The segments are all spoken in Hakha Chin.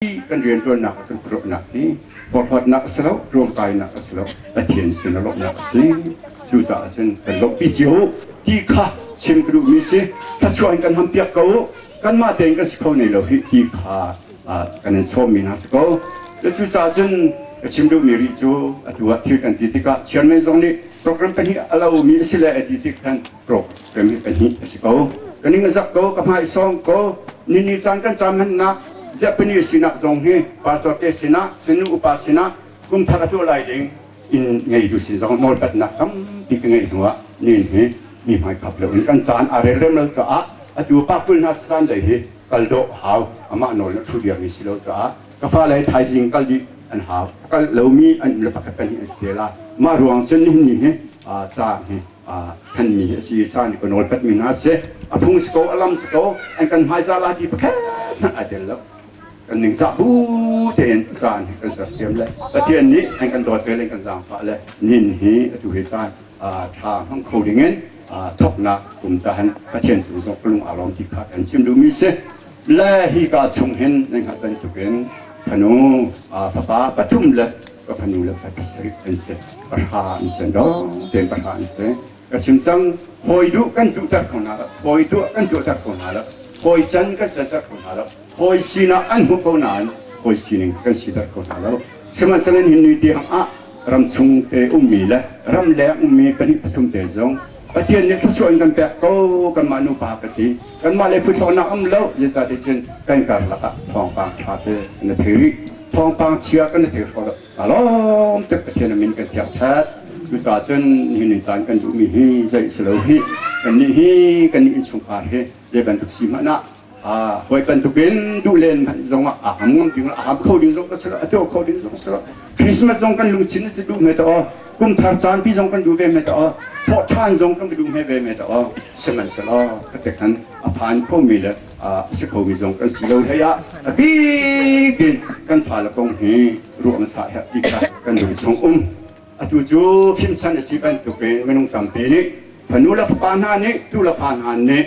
kan rianṭuannak le kan khuaruahnak hi forhawtnak a si lo, ṭuangkainak a si lo, Pathian sin a lawmhnak a si. Cucaah cun kan lawmhpi cio u ti kha chim ka duhmi si. Thluachuah in kan hampiak ko u. Kanmah tein kan si kho nei lo hih ti kha kan in sawmmi hna si ko. Cucaah cun ka chim duhmi rih cu atu ah thil kan ti tikah chairman zong nih program pahnih a lomi a si le a ti tik khan rawk kan pahnih a si ko. Ka ningzak ko, ka hmaisawng ko, nini caan kan cam hmannak ziapani sinak zong hi pastor te sinah cunu upa sinah kum thar a tuah lai ding in ngei tu si zong nawlpatnak tampi ka ngei hnuah nin hi mi hmai khap lo in kan caan a rel remel caah atu pa kul hna caan dei hi kal dawh hau amah nawl na thu diam si lo caah ka fa le thaizing kal dih an hau kal lomi an le pakhat pahnih an si te la mah ruang cun ni hi ca hi thanmi a si caan kan nawlpatmi hna si a phung si ko a lam si ko an kan hmaisa lati pakhat hmanh ai tel lo kan ningzah bu tein caan kan sersiam le pathian nih an kan dawt vel in kan zaangfah le nin hi atu hi caan tha hmang kho ding in thoknak kum cahan pathian cung zong ka lung a rawm ti kha kan chim duhmi si Le hika chung hin nan hngalh bantukin fanu fapa pathum le ka fanu le ka pasarih an si pahra an si dong tein pahra an si ka chim cang hawi duh kan tuhter kho hna lo hawi tuah kan tuahter kho hna lo hawi can kan canter kho hna lo hawi sinah an hmuh ko nain hawi sining kan siter kho hna lo sihmanhsehlaw hin ni tiang ah ram chung te ummi le ram leng ummi pahnih pathum te zong Pathian nih thluachuah in kan pek ko kanmah nupa ka si kanmah le phuthawnak am lo zeta te cun kan karlak ah thawngpang ṭha te na thei rih thawngpang chia kan na thei hraw hna lawm tuk Pathian min kan thiak ṭhat cucaah cun nihin ni caan kan duhmi hi zei si lo hi kan nih hi kan nih innchungkhar hi zei bantuk si hmanh ah Hawi bantukin duh len zong ah a ham ngam ding a ham kho ding zong ka si lo, a tuah kho ding zong si lo. Christmas zong kan luchin na si duh mai ta o. Kum thar caan pi zong kan du ve mai ta o. Thawh than zong kan du mai ve mai ta o. Sihmanhsehlaw ka te khan a phan kho mi le a si kho mi zong kan si lo hlei ah a bikin kan tha le kong hi ruang sa he ti kha kan du chung um. Atu cu fimchan a si bantukin minung tampi nih fanu le fapa hna nih tu le fa hna nih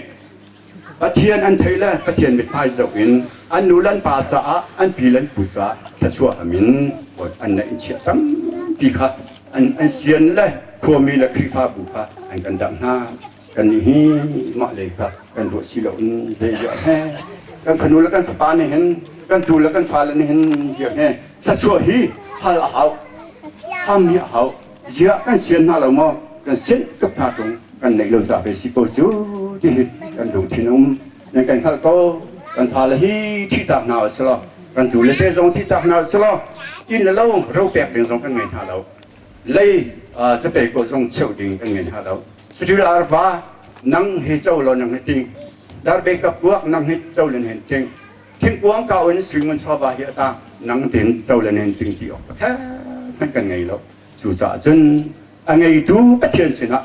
Pathian an thei le Pathian mithmai zohin an nu le an pa caah an pi le an pu caah thluachuahham in an neih in chiah tampi kha an, an sian le khuami le Khrihfabu kha an kan damh hna. Kannih hi mah lei kha kan ruah si lo in zei ziah he kan fanu le kan fapa nih hin kan tuu le kan fale nih hin ziah he thluachuah hi hal a hau, ham hi a hau. ziah kan sian hna lo maw kan sian ka fa tung kan neih lo ca ve si ko cu ti hi kan lungthin um nan kan hngalh ko kan sa le hi thihtak hna u silo kan tu le te zong thihtak hna u silo inn le lo ro pek ding zong kan ngei hna lo lei zapei ko zong cheu ding kan ngei hna lo sri arva nang hi cho lo nang hi ting darbe kapuak nang hi cho len hen ting Thingkuang kau in Suingun chawva hi a tah nang tein co le nen tling ti awk a kher hmanh kan ngei lo. Cucaah cun a ngeitu Pathian sinah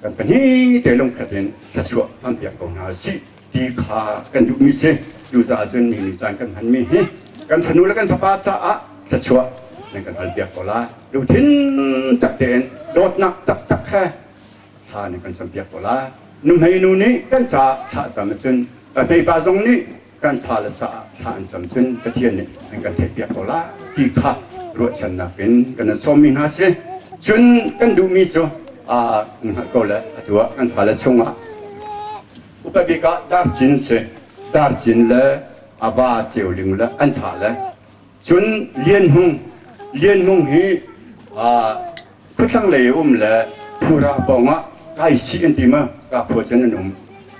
kan pahnih te lungkhat in thluachuah hmanpiak ko hna si ti kha kan duhmi si. Cucaah cun mi nih caan kan hmanmi hi kan fanu le kan fapa caah thluachuah nan kan halpiak ko lai. Lungthin tak tein dawtnak taktak he thla nih kan campiak ko lai. Nuhmeinu nih kan ca thlah cam ahcun, ka tepa zong nih kan tha le sa ah thla an cam cun Pathian nih an kan theihpiak ko lai ti kha ruahchannak in kan sawmmi hna si. Cun kan duhmi cu aa kan hngalh ko le a tuah kan tha le chungah upat bik ah darcin si darcin le a va ceu ling le an tha le cun lian hung lian hung hi aa Thlanglei um le khura pawng ah kai chih an ti ma ka khua cun an um.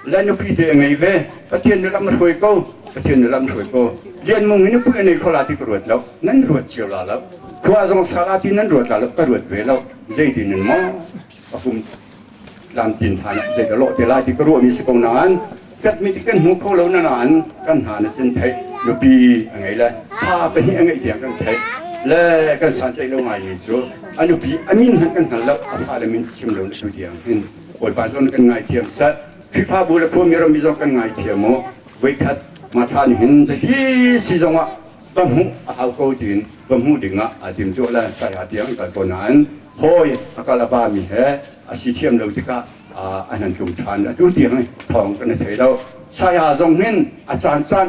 Le nupi te a ngei ve Pathian na lam a hruai ko Pathian na lam hruai ko lian mung in nupi an ei khola ti ka ruat lo nan ruat cio la lo khua zong sala ti nan ruat la lo ka ruat ve lo zei tin nan ma a hum tlamtlin hna nih zei ka lawh te lai ti ka ruahmi si ko nain katmi cu kan hmu kho lo na nain kan hna na sin theih nupi a ngei le fa pahnih a ngeih tiang kan theih le kan sanceih lo ngaimi cu a nupi a min hmanh kan hngal lo a fale min chim lo na tu tiang hin bawipa zawn kan ngaithiam sat Khrihfabu le khuami rammi zong kan ngaithiam u voikhat matha nih hin zei hi si zongah ka hmuh a hau ko tiin ka hmuh dingah aa timtuah le saya tiang kal ko nain hawi a kal a vami he a si thiam lo tikah an han tlung ṭhan atu tiang thawng kan i thei lo saya zong hin a caan caan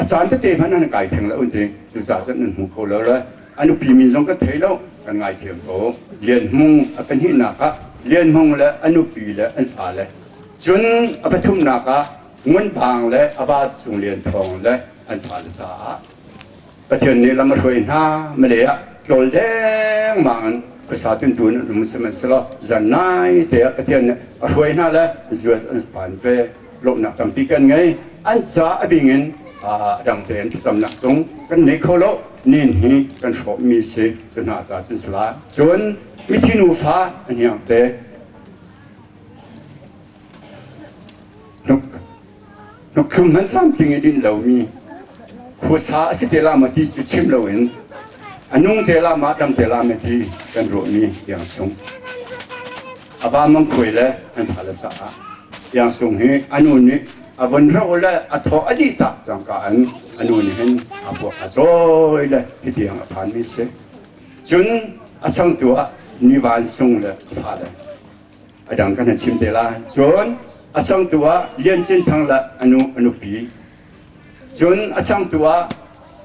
a caan tete hmanh an kai theng lo un ti cucaah cun nan hmu kho lo le a nupi min zong ka thei lo kan ngai thiam ko lian hmung a kan hihnak ah lian hmung le a nupi le an fa le cun a pathumnak ah ngun vang le a va cung lian thawng le an fale caah Pathian nih lam a hruai hna male ah tlawl dengmang in khuasa tuntu in um sihmanhsehlaw zan nai te ah Pathian nih a hruai hna le US an phan ve lawmnak tampi kan ngei an ca a bing in a dang te an thlacamnak cung kan nei kho lo nin hi kan hrawh mi si cu hna ca cun sala cun mithi nufa an hiang te Hnukthum nan tlamtling i din lomi khuasa a si te la ma ti cu chim loin a nung te la ma dam te la ma ti kan ruahmi tiang sung aba mangkhuai le an tha le caah tiang sung hi anu nih a von ro le a thaw a di tak cangka an anu nih hin a puak a chawi le hitiang a phan mi si cun a changtu ah mi van sung le a fa le a dang kan chim te lai cun a changtu ah Lian Cin Thang le anu anupi cun a changtu ah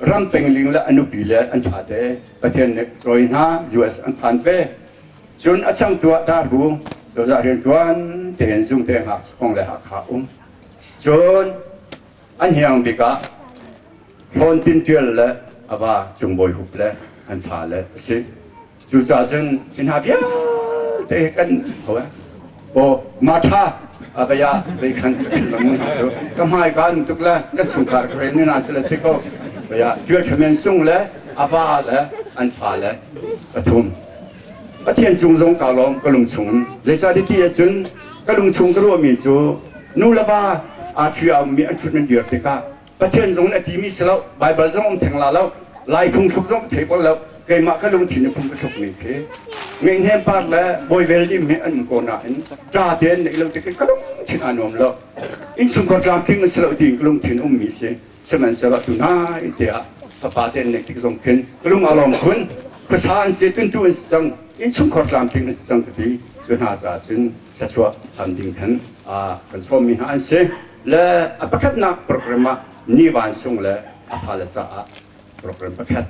ram pengling le anupi le an thate Pathian nih cawi hna US an phan ve cun a changtu ah Daru cozah rian tuan tein zum te hak khong le hakha um cun an hiang bik ah thlawn tin tial le ava cungbawi hup le an tha le a si Cucaah cun mi hna vialte kan Paul Mata abaya beikhan ka thinlung hna cu ka hmai kan tuk le ka chungkhar ka ren hna su le ti ko baya tial thamen sung le ava le an tha le pathum pathian cung zong ka lawm ka lung chung zeicah ti cun ka lung chung ka ruahmi cu nu le va atri aummi an chut men dir tikah pathian zong na timi si lo bible zong um theng la lo lai phung thluk zong thei bol lo keimah ka lungthin a phung ka tlukmi khi ngei par le boivel dim he an um ko nain tla tein neih lo ti ka lungthin aa nuam lo insungkhar tlamtling a si lo tiin ka lungthin ummi si sihmanhsehlaw tu nai tiah fapa tein neih tik zong khin ka lung a lawm khun khuasa an si tuntu an si cang insungkhar tlamtling a si cang ka ti cu hna caah cun thlachuah am ding khan kan sawmmi hna an si le a pakhatnak program ah ni van sung le a fale caah program pakhat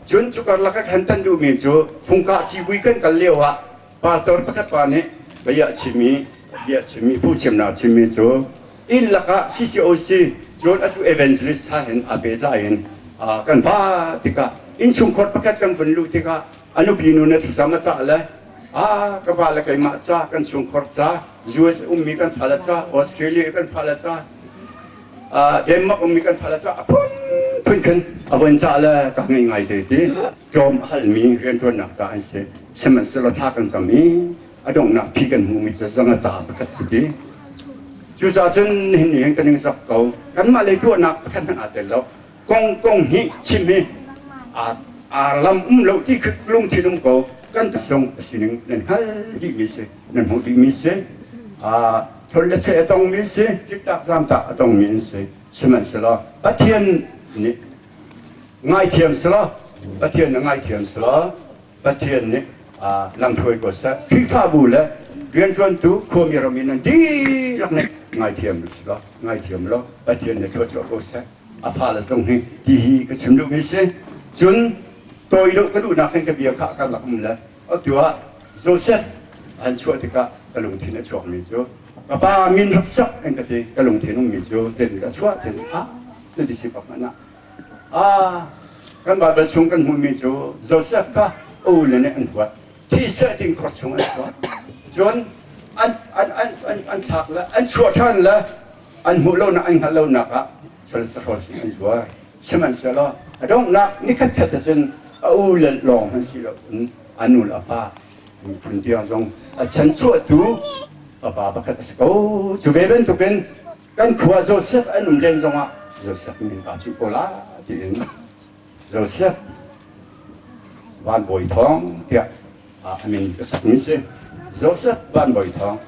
Cun cu karlak a thlen kan duhmi cu fungkah civui kan kal lio ah pastor pakhat pa nih bia chimmi bia chimmi phu thiamnak chimmi cu inn lakah CCOC cun atu evangelist ha hin aa pehtlai in kan vaa tikah innchungkhar pakhat kan vun luh tikah a nupi nu na thutlam a cah le a ka va le keimah ca kan chungkhar ca US ummi kan thah le ca, Australia kan thah le ca, Denmark ummi kan thah le ca, a phun kan avon ca le ka ngai ngai te ti tlawm halmi riantuannak ca an si sihmanhsehlaw tha kan cam i a donghnak phi kan hmu mi cu zanga caah pakhat si ti cucaah cun nihin nih hin kan ning sak ko kanmah lei tuahnak pakhat hmanh aa tel lo kong kong hi chim hi aa lam um lo ti kha lungthin um ko kan tlung a sining nan hngal dih mi si nan hmuh dih mi si thol le che a tong mi si tiktak zamtak a tong mi an si sihmanhsehlaw pathian nih ngaithiam selaw pathian na ngaithiam selaw pathian nih lamhruai ko seh khrihfabu le rianṭuantu khuami ram in nan dihlak nih ngaithiam selaw ngaithiam law pathian nih thuat ko seh a fale zong hi ti ka chim duhmi si cun tawi deuh ka duhnak hin ka bia kha kan rak um le atu ah Joseph an chuah tikah ka lungthin a chuakmi cu ka pa min rak sak in ka ti ka lungthin ummi cu tin ka chuah tin ah cu disciple hmanh ah ah kan Bible chung kan hmuhmi cu Joseph kha u le nih an huat thi seh ding khor chung an chuah cun an an an an an thlak le an chuah ṭhan le an hmuh lonak, an hngalh lonak ah cun sahrol sing an tuar. Sihmanhsehlaw a donghnak ni khatkhat ahcun a u le lawng hmanh si loin a nu le a pa phun tiang zong a chan chuahtu fapa pakhat a si ko. Cu ve bantukin kan khua Joseph an um len zongah Joseph min kaa cuh ko la tiin Joseph Van Bawi Thawng tiah a min ka sakmi si. Joseph Van Bawi Thawng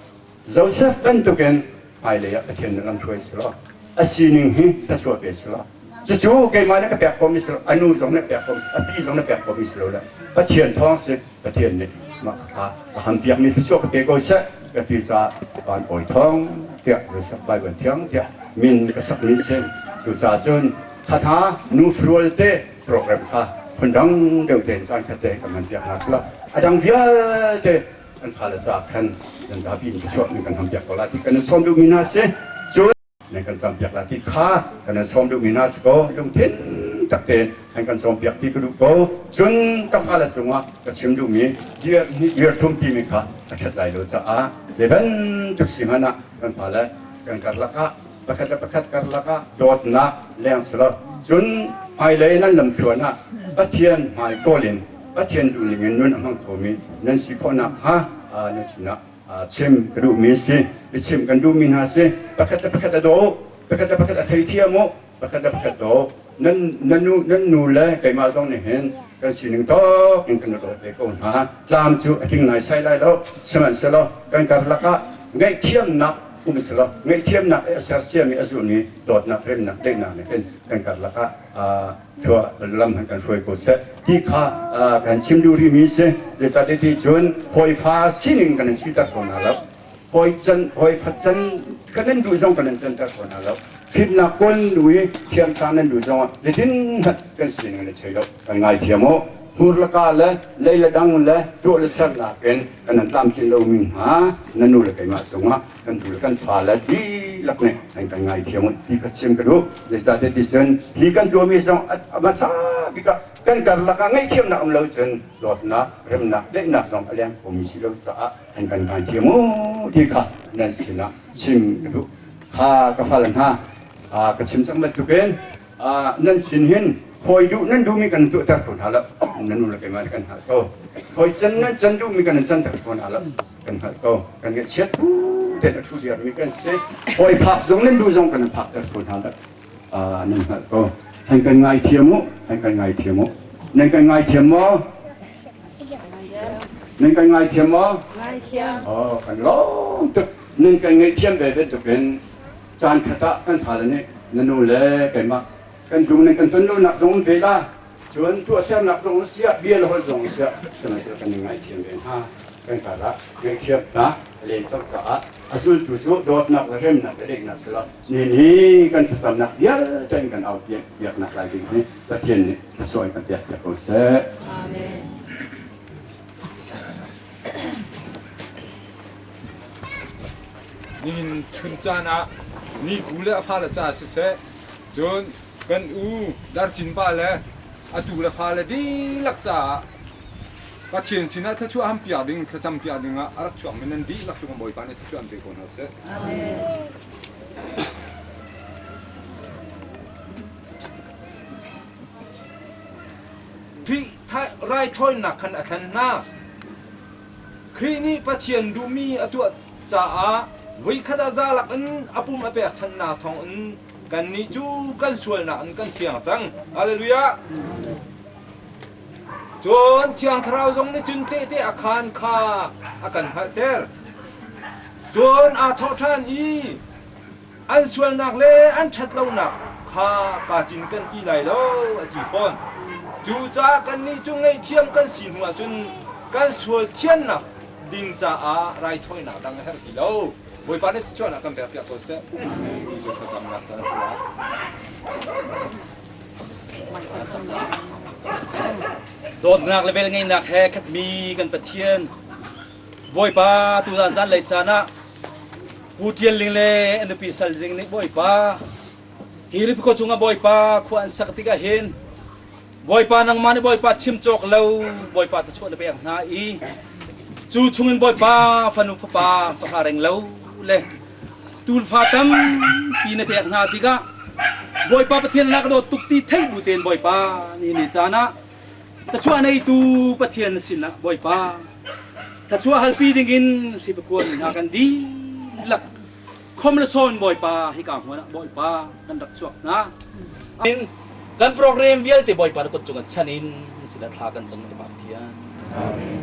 Joseph bantukin hmailei ah Pathian nih ram hruai silo, a sining hi thlachuah ve silo, cucu keimah nih ka pek khawhmi silo, a nu zong nih pek khawhmi silo, a pi zong nih pek khawhmi silo le Pathian thawng si Pathian nih mah kha a ham piakmi thlachuah ka pe ko seh ka ti caah van awi thawng tiah Joseph Bible thiang tiah min ka sakmi si cucaah cun thatha nufa rualte program kha phundang deuh tein caan khat te kan ngan piak hna sila a dang vialte an fale caah khan nan zapi in biachuak nan kan ham piak ko la ti kan in sawm duhmi hna si cun nan kan sawm piak la ti kha kan in sawm duhmi hna si ko lungthin takte an kan sawm piak ti ka duh ko cun ka fale cungah ka chim duhmi irthum timi kha a ṭhat lai lo caah zei bantuk si hmanh ah kan fale kan karlak ah pakhat le pakhat karlak ah dawtnak lengser cun hmailei nan lamtluan ah Pathian hmai kawl in Pathian duh ning in nun a hmang khomi nan si khawh nakhnga na sinah chim ka duhmi si biachim kan duhmi hna si pakhat le pakhat a daw pakhat le pakhat a theithiam u pakhat le pakhat daw nan nu le keimah zong nih hin kan sining tok in kan rawt ve ko hna tlam cu a tling lai sai lai lo sihmanhsehlaw kan karlak ah ngaihthiamnak um selaw ngaihthiamnak i a sersiami a zulmi dawtnak remnak daihnak nih hin kan karlak ah thua lam han kan hruai ko seh ti kha kan chim duh rihmi si zeicahtiah cun hawifa sining kan in siter ko hna lo hawi can hawi khat can kan nan duh zong kan nan canter kho hna lo thitnak kun nui thiamsa nan duh zong ah zeitin hlat kan sin kan i chei lo kan ngai thiam o hmur la ka le lei la dang le tuah le ser nakin kan nan tlamtlin lo mi hna nan nu le keimah cungah kan tu le kan tha le di lak ne an kan ngai thiam o ti ka chiam ka duh zeicah te ti cun hi kan tuah mi zong a hmasa bik ah kan karlak ah ngei thiamnak um lo cun dawtnak remnak daihnak zong a leng kho mi si lo caah an kan vanti mu ti kha nan sinah chim ka duh kha ka fal hna ka chim cang bantukin nan sin hin hawi duh nan duhmi kan tuahter kho hna lo nan nu le keimah kan hngalh ko hawi can nan can duhmi kan canter kho hna lo kan hngalh ko kan ngaihchiat pu te a thu diarmi kan si hawi phak zong nan duh zong kan phak ter kho hna lo nan hngalh ko han kan ngaithiam u han kan ngaithiam u nan kan ngaithiam maw Nan kan ngaithiam maw? Ngaithiam. Oh, kan lawm tuk. Nan kan ngaihthiam ve bantuk in caan khat ah kan fale nih na nu le keimah kan dum nan kan ton lonak zong in ve la. Cun tuahsernak zong in siah, bia le holh zong in siah, sihmanhsehlaw kan i ngaithiam ve hna. Kan karah ngaihthiamnak le co caah a zultu cu dawtnak le remnak le leknak silah ni ni kan thlacamnak vialte in kan au piak piaknak lai ding hi Pathian nih Thluachuah kan pek cia ko seh. Amen. Nihin chun caan ah ni ku le a fale ca siseh cun kan u darcin pa le atu le fale dihlak caah Pathian sinah thluachuah ham piak ding thlacam piak ding ah a rak chuak mi nan dihlak cu kan Bawipa nih thluachuah an pe ko hna seh. Amen. Khrih raithawinak khan a thlen hna. Khrih nih Pathian duhmi a tuah caah voikhat ah zalak in a pum a pekchanhnak thawngin kannih cu kan sualnak in kan thiang cang. Haleluja! Cun Thiang Thlarau zong nih cun tehte a khaan kha a kan hngalhter. Cun aa thawh ṭhan i, an sualnak le an ṭhatlonak kha kaa cin kan ti lai lo, a ti fawn. Cucaah kannih cu ngaihthiam kan si hnu ahcun kan sual thiannak ding caah raithawinak dang a herh ti lo. Bawipa nih thluachuahnak a kan pekpiak ko seh ti cu thlacamnak caan a si lai. Dawtnak le velngeihnak he khatmi kan Pathian Bawipa tuzan zanlei caan ah Pu Ṭial Ling le a nupi Sal Zing nih Bawipa hi riphaw cungah Bawipa khua an sak tikah hin Bawipa nangmah nih Bawipa chim cawk lo Bawipa thluachuah na pek hna i cu chungin Bawipa fanu fapa pahra reng lo le tulfa tampi na pek hna tikah Bawipa Pathian na ka dawt tuk ti theih bu tein Bawipa ni ni caan ah Thluachuah neitu Pathian na sinah Bawipa, thluachuah halpi dingin hri pakuan hna kan dihlak khom le sawn Bawipa hika hmuan ah Bawipa kan rak chuak hna. Amin. Kan program vialte Bawipa na kut cungah chan in na sinah thla kan cang Bapak Pathian. Amin.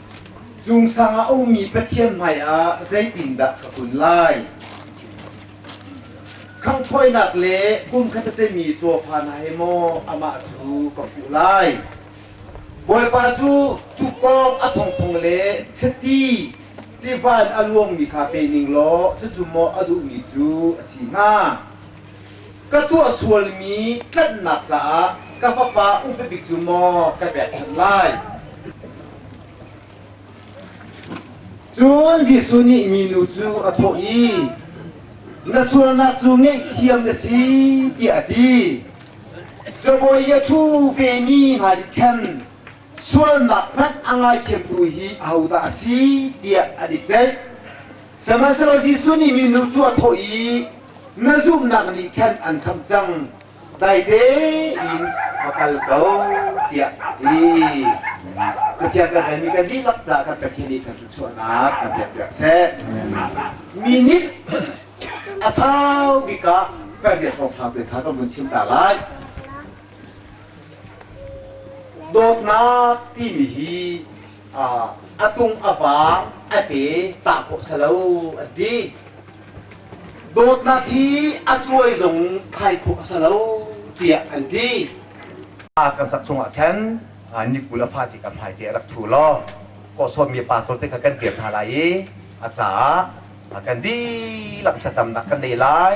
Cung sang ah a ummi Pathian hmaiah zeitindah ka kun lai? Khanghthawinak le kumkhat a temi cawfa hna he maw amah cu ka hmuh lai? Bawipa cu tuukawng a thongthong le chiti tiva in a luangmi kha pe ning law cucu maw a duhmi cu a si hnga? Ka tuah sualmi tlanhnak caah ka fapa upat bik cu maw ka pekchanh lai? Cun Jesuh nih minu cu a thawh i, Na sualnak cu ngaihthiam na si, tiah a ti. Cabawi a ṭhu vemi hna nih khan sualnak hmanh a ngaithiamtu hi ahodah a si tiah an i ceih. Sihmanhsehlaw Jesuh nih minu cu a thawh i, Na zumhnak nih khan an khamh cang, dai tein va kal ko, tiah a ti. Cathiang kan relmi kan dihlak caah kan Pathian nih kan thluachuahnak kan pekpiak seh. Mi nih a sau bik ah kan rian kong hau te kha kan vun chim ta lai. Dawtnak timi hi a tung a vang a ke tah khawh sa lo a ti. Dawtnak hi a cuai zong thai khawh sa lo tiah an ti. Kan sak chungah khan nikul a fati kan hmai te a rak thu law kawhsawtmi pastor te kha kan dir hna lai i a caah kan dihlak thlacamnak kan lei lai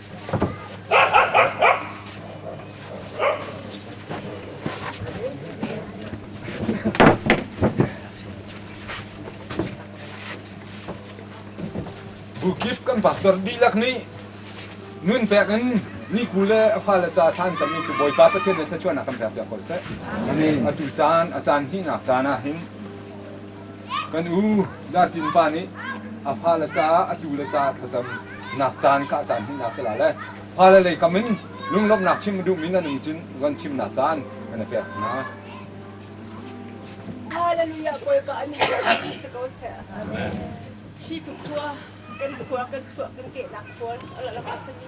Bukip kan pastor dihlak nih nun pek in niku le a fale ca than cam cu Bawipa Pathian nih thluachuahnak kan pek piak ko seh. Amen. Atu caan a caan hihnak caan ah hin Kan u Dar Tin pa nih a fale caah a tule caah thlacam nak caan ka caan hmuhnak si la le fale lei kam in lunglawmhnak chim a duhmi nan um cun von chimnak caan kan i pek hna. Hallelujah Bawipa an si ko seh. Hi khua kan khua kan chuah kan kehnak khual ala lama sami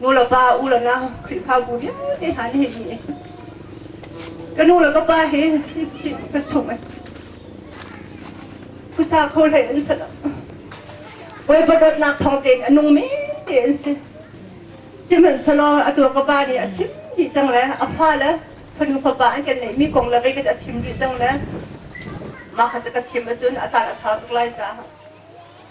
nulepa ulenau khrihfabu vialte hna nih hi ka nu le ka pa he sipsip ka chung in phusa kho hlei an si lo bawipa dawtnak thawng tein a nung me te an si sihmanhselaw a tua ka pa nih a chim dih cang le a fa le fanu fapa an kan neihmi kong le kei ka a chim dih cang le mah kha ka chim ahcun a tar a thar tuk lai caah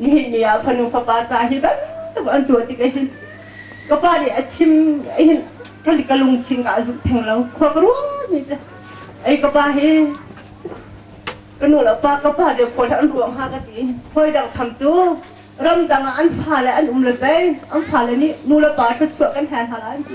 nihin ni ah fanu fapa ca hi bantuk an tuah tik ahhin ka pa nih a chim hin ka ka lungthin ka a zulh theng lo khua ka ruat ni se ei ka pa hi ka nu le pa ka pa ze khawi an ruang ha ka ti hoi dang tham cu ram dang ah an fa le an um le pei an fa le nih nu le pa thluachuah kan hen hal an ti